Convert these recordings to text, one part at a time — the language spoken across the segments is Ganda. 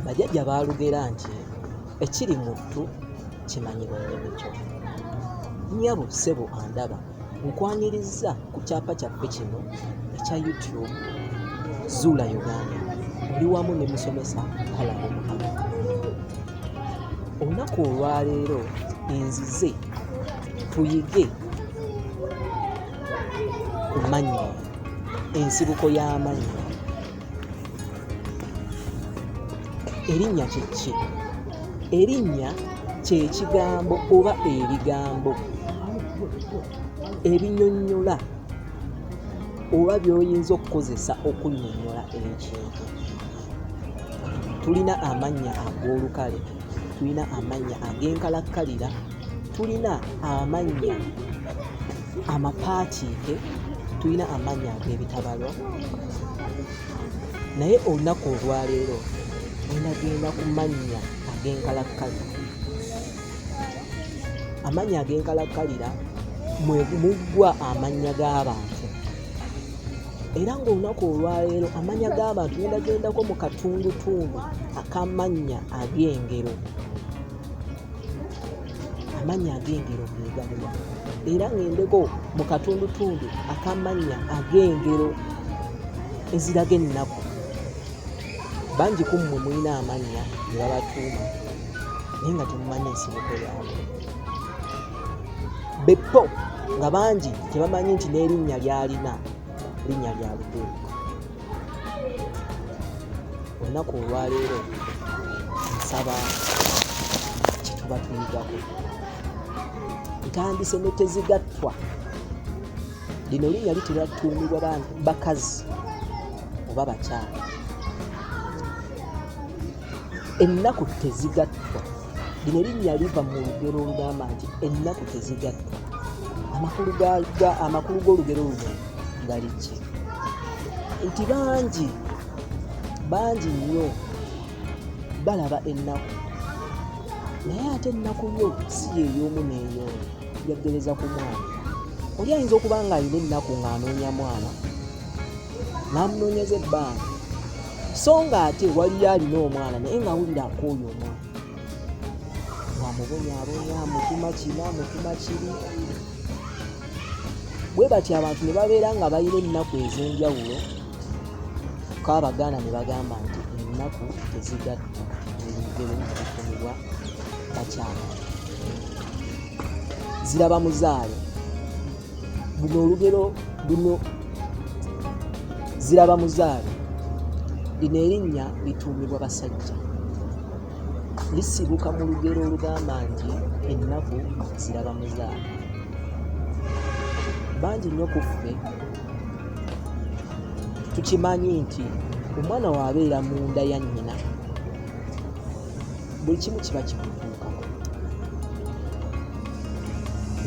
bajajja baalugera nti ekiri mu ttu kimanyibwa nnyini kyo nnyabo ssebo andaba nkwanirizza ku kyapa kyaffe kino ekya youtube zuula uganda oli wamu ne musomesa kalabo mukama olunaku olwaleero enzize tuyige ku mannyo ensibuko y'amannyo erinnya kyeki erinnya kyekigambo oba ebigambo ebinyonyola oba byoyinza okukozesa okunyonyola ekintu tulina amannya ag'olukale tulina amannya ag'enkalakkalira tulina amannya amapaatiike tulina amannya ag'ebitabalwa naye olunaku olwaleero enagenda ku mannya ag'enkalakkalira amannya ag'enkalakkalira muggwa amannya g'abantu era ng'olunaku olwaleero amannya g'abantu genagendako mu katundutundu akamannya ag'engero amannya ag'engero ge galiwa era ng'endeko mu katundutundu akamannya ag'engero eziraga ennaku bangi ku mmwe mulina amannya ne babatuuma naye nga temumanyi ensibuko yaabwe beppo nga bangi tebamanyi nti n'erinnya lyalina linnya lya luteeka olunaku olwaleero nsaba kyetuba tuyigako ntandise ne tezigattwa lino linnya litera tuumibwa bakazi oba bakyala ennaku tezigattwa lino linnya liva mu lugero olugamba nti ennaku tezigatta amakulu g'olugero luno gali ki nti bangi bangi nnyo balaba ennaku naye ate ennaku yo si yeeyoomu neeyo yaggereza ku mwana oli ayinza okuba ng'alina ennaku ng'anoonya mwana n'amunoonyeza ebbanga so nga ate waliyo alina omwana naye nga awulira akooyo omwana wamubonyabonya mutuma kina mutuma kiri bwe batyo abantu ne babeera nga balina ennaku ez'enjawulo ko abaganda ne bagamba nti ennaku tezigatta ebigero nabifunibwa bakyala ziraba muzaale luno olugero luno ziraba muzaale lino erinnya lituumibwa basajja lisibuka mu lugero olugamba nti ennaku ziraba muzaale bangi nnyo ku ffe tukimanyi nti omwana waabeera munda ya nnyina buli kimu kiba kikutuukako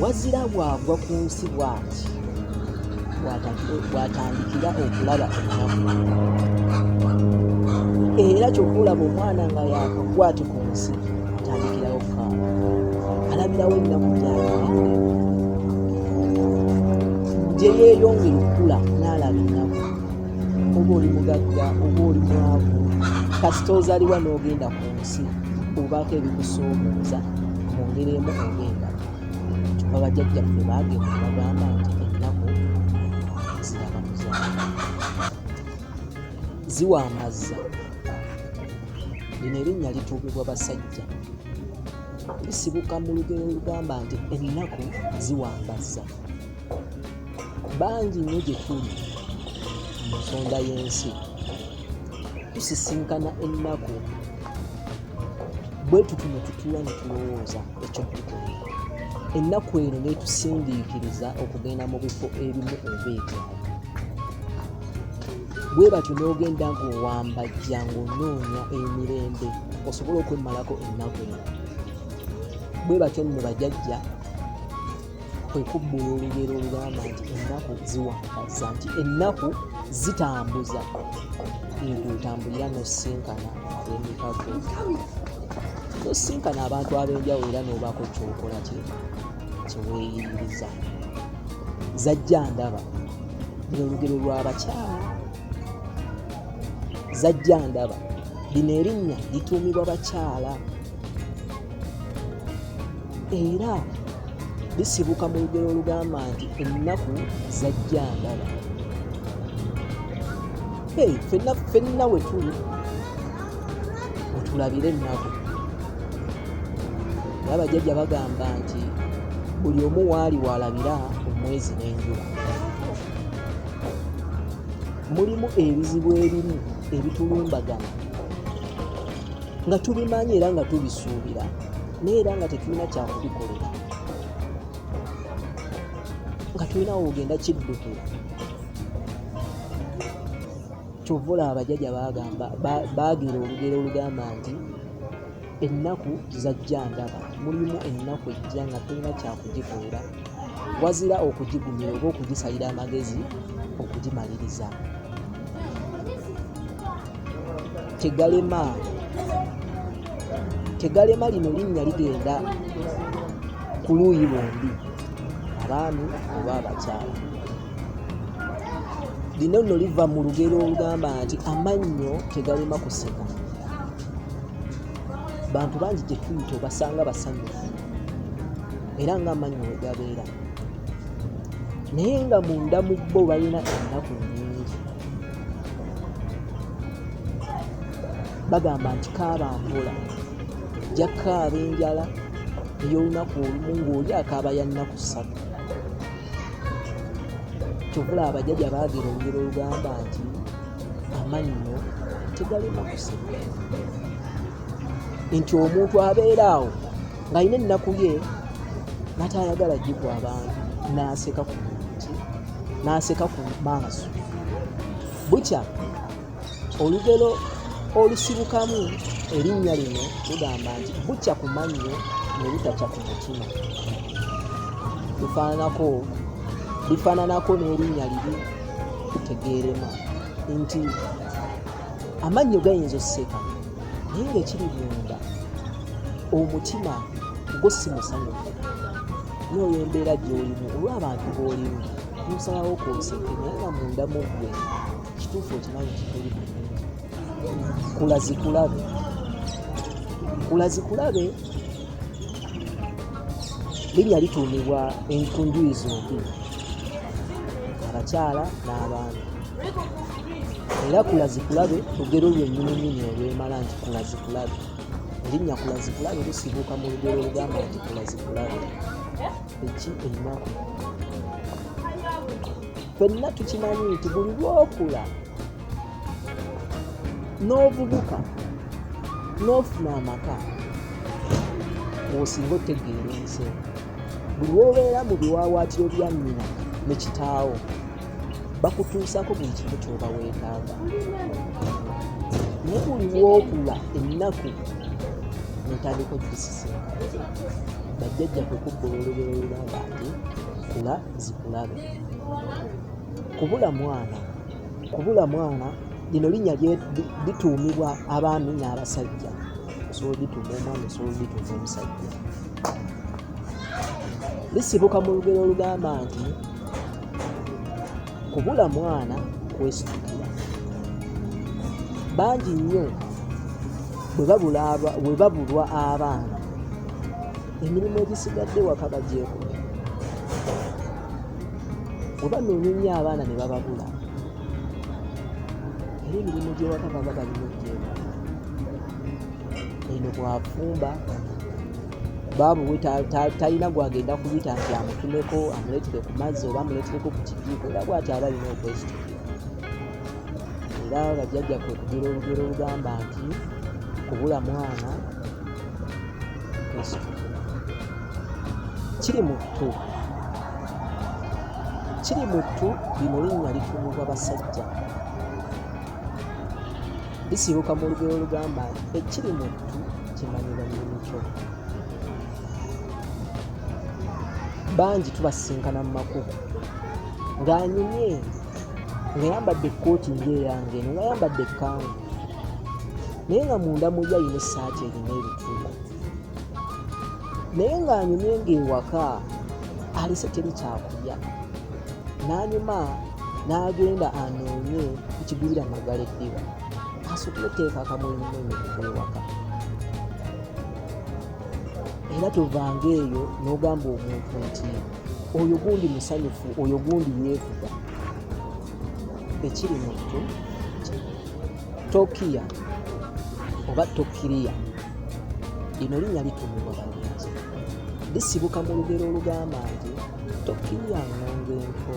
wazira bwagwa ku nsi bwati bwatandikira okulaba ennaku era kyokulaba omwana nga yakagwati ku nsi atandikirawo kaaba alabirawo ennaku gyayaae gye yeeyongera okukula n'alaba ennaku oba oli mugagga oba oli mwavu kasita ozaliwa n'ogenda ku nsi obaako ebikusoomooza mu ngeri emu ogenda kyoka bajajja ffe baagenda bagamba nti ennaku ziraba muzaala ziwa amazza lino erinnya lituumibwa basajja lisibuka mu lugero olugamba nti ennaku ziwambazza bangi nnyo gye tuli mu nsonda y'ensi tusisinkana ennaku bwe tuti ne tutuula ne tulowooza ekyokukola ennaku eno netusindiikiriza okugenda mu bifo ebimu oba ebyalo bwe batyo n'ogenda ng'owambajja ng'onoonya emirembe osobole okwemmalako ennaku eno bwe batyo nno bajajja kwe kubbula olugero olugamba nti ennaku ziwakaza nti ennaku zitambuza ekwetambulira nosinkana abemikago nosinkana abantu ab'enjawulo era n'obaako kyokola kyeweeyiririza zajja ndaba bino olugero lw'abakyala zajja ndaba lino erinnya lituumibwa bakyala era bisibuka mu lugero olugamba nti ennaku zajja ndaba hey, fenna fenna wetuli otulabire ennaku era bajjajja bagamba nti buli omu waali walabira omwezi n'enjula mulimu ebizibu ebimu ebitulumbagana nga tubimanyi era nga tubisuubira naye era nga tetulina kyakubikolera nga tulinawo ogenda kiddukira kyova olaba abajaja bagamba bagira olugero olugamba nti ennaku zajja ndaba mulimu ennaku ejja nga tulina kyakugikolera wazira okugigumira oba okugisalira amagezi okugimaliriza tegalema tegalema lino linnya ligenda ku luuyi lwombi abaami oba abakyala lino nno liva mu lugero olugamba nti amannyo tegalema kuseka bantu bangi gyetuyita obasanga basanyufu era ng'amaanyi we gabeera naye nga munda mu bo balina ennaku nyingi bagamba nti kaaba mpola jakaaba enjala ey'olunaku olumu ng'oli akaaba ya nnaku ssatu kyovula abajaja baagera olugero olugamba nti amannyo tegalina kusika nti omuntu abeera awo ng'alina ennaku ye natayagala gigwa abantu n'aseka ku n'aseka ku maaso bukya olugero olusibukamu erinnya lino lugamba nti bukya ku mannyo ne butakya ku mutima bifaananako bifaananako n'erinnya libi tegeerema nti amannyo gayinza osseka naye ngaekiri munda omutima gwo si musanyufu nooyo embeera gyolimu olw'abantu boolimu nosalawo kwoseke naye nga munda mu ggwe kituufu okimanyi kituli kulazikulabe kulazikulabe linnya lituumibwa enkunjuyi zombi abakyala n'abaana era kulazikulabe lugero lwennyininyini olwemala nti kulazikulabe erinnya kulazikulabe lusibuuka mu lugero olugamba nti kulazikulabe eki ennaku fenna tukimanyi nti buli lwokula n'ovubuka n'ofuna amaka osinga otegeera ensi buli wobeera mu biwaawaatiro bya nnyina ne kitaawo bakutuusaako buli kimu kyoba weetaaga naye buli lwokula ennaku notandika okukisisinka bajjajja kwekubba olulobero lugamba nti kula zikulabe kubula mwana kubula mwana lino linnya lituumibwa abaami n'abasajja osobola olituuma omwana osobola olituuma omusajja lisibuka mu lugero olugamba nti kubula mwana kwesitukira bangi nnyo bwe babulwa abaana emirimu egisigadde waka bagyeko bwe banoonya ennyo abaana ne bababula era emirimu gy'ewaka baba balina ogyeko eno bwafumba baabu we talina gwagenda kuyita nti amutumeko amuleetere ku mazzi oba amuleetereko ku kijiiko era bwati aba alina okwesita era bajjajja kwe kugira olugero olugamba nti kubula mwana kwesita kiri mu ttu kiri mu ttu lino linnya litumibwa basajja bisibuka mu lugero olugamba nti ekiri mu ttu kimanyira nyinikyoo bangi tubasisinkana mu makubo ng'anyumye ngayambadde ekkooti ngaeyange eno ngayambadde ekkangu naye nga munda muli alina essaati erina ebituuko naye ng'anyumye ng'ewaka alese teri kyakulya n'anyuma n'agenda anoonye ekigwira magala eddiba asukule teeka akamwenyumwenyu kukwewaka era tovanga eyo n'ogamba omuntu nti oyo gundi musanyufu oyo gundi yeevuga ekiri mukyo tokiya oba tokiriya lino linnya litumibwa balungi lisibuka mu lugero olugamba nti tokiriya ngonga enko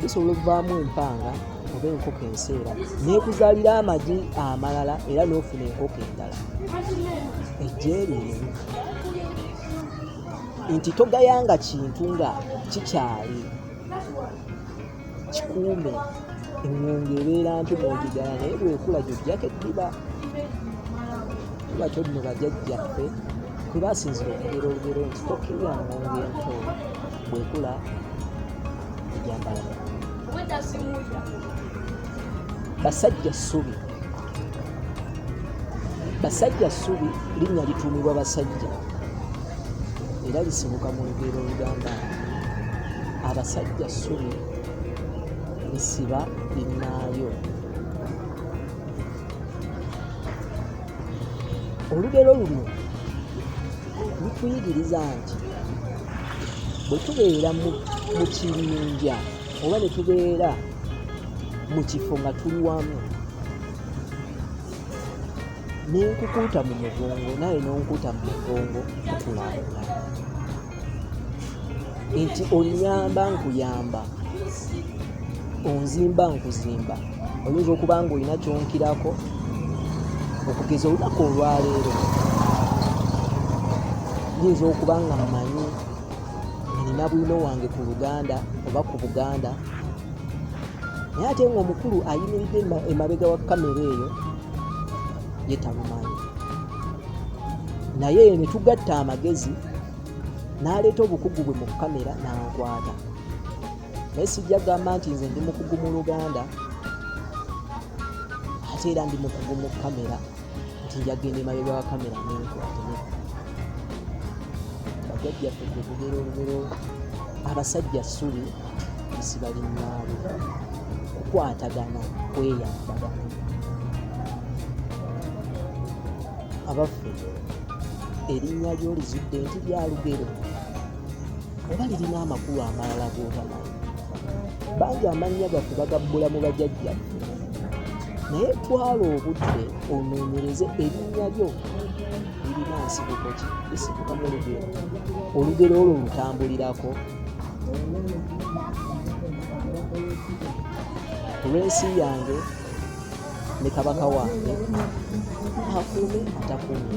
bisobola okuvaamu empanga oba enkoko enseera nekuzalira amagi amalala era nofuna enkoko endala ejeerimu nti togayanga kintu nga kikyali kikuume eŋŋonge ebeera nti mwogigala naye bwekula gyojjako eddiba kuba kyo nno bajajjaffe kwe basinzira okugera olugero nti tokkirira ŋŋonge ento bwekula ejambala basajja ssubi basajja ssubi linnya lituumibwa basajja era lisibuka mu lugero olugamba abasajja ssubi lisiba linnaayo olugero luno lutuyigiriza nti bwe tubeera mu kibinja oba ne tubeera mu kifo nga tuli wamu nenkukuuta mu mugongo naye nonkuuta mu mugongo tukulaakulana nti onyamba nkuyamba onzimba nkuzimba oyinza okuba nga olina kyonkirako okugeza olunaku olwaleero yinza okuba nga mmanyi nina bwino wange ku luganda oba ku buganda naye ate ngaomukulu ayimiridde emabega wa kamera eyo ye tabumanyi naye ne tugatta amagezi n'aleeta obukugu bwe mu kamera n'ankwata naye sijja gamba nti nze ndi mukugu mu luganda ate era ndi mukugu mu kamera nti njagenda emabega wa kamera nenkwate bajjajjaffe gwe tugera olugero abasajja ssubi siba linnaabe kukwatagana kweyambagana abaffe erinnya lyo lizudde nti lya lugero oba lirina amakulu amalala g'otamanyi bangi amannya gaffe bagabbula mu bajajjaffe naye twala obudde onoonyereze erinnya lyo lirina nsibuko ki lisibuka mu lugero olugero olwo lutambulirako olw'ensi yange ne kabaka wange akuume atakuume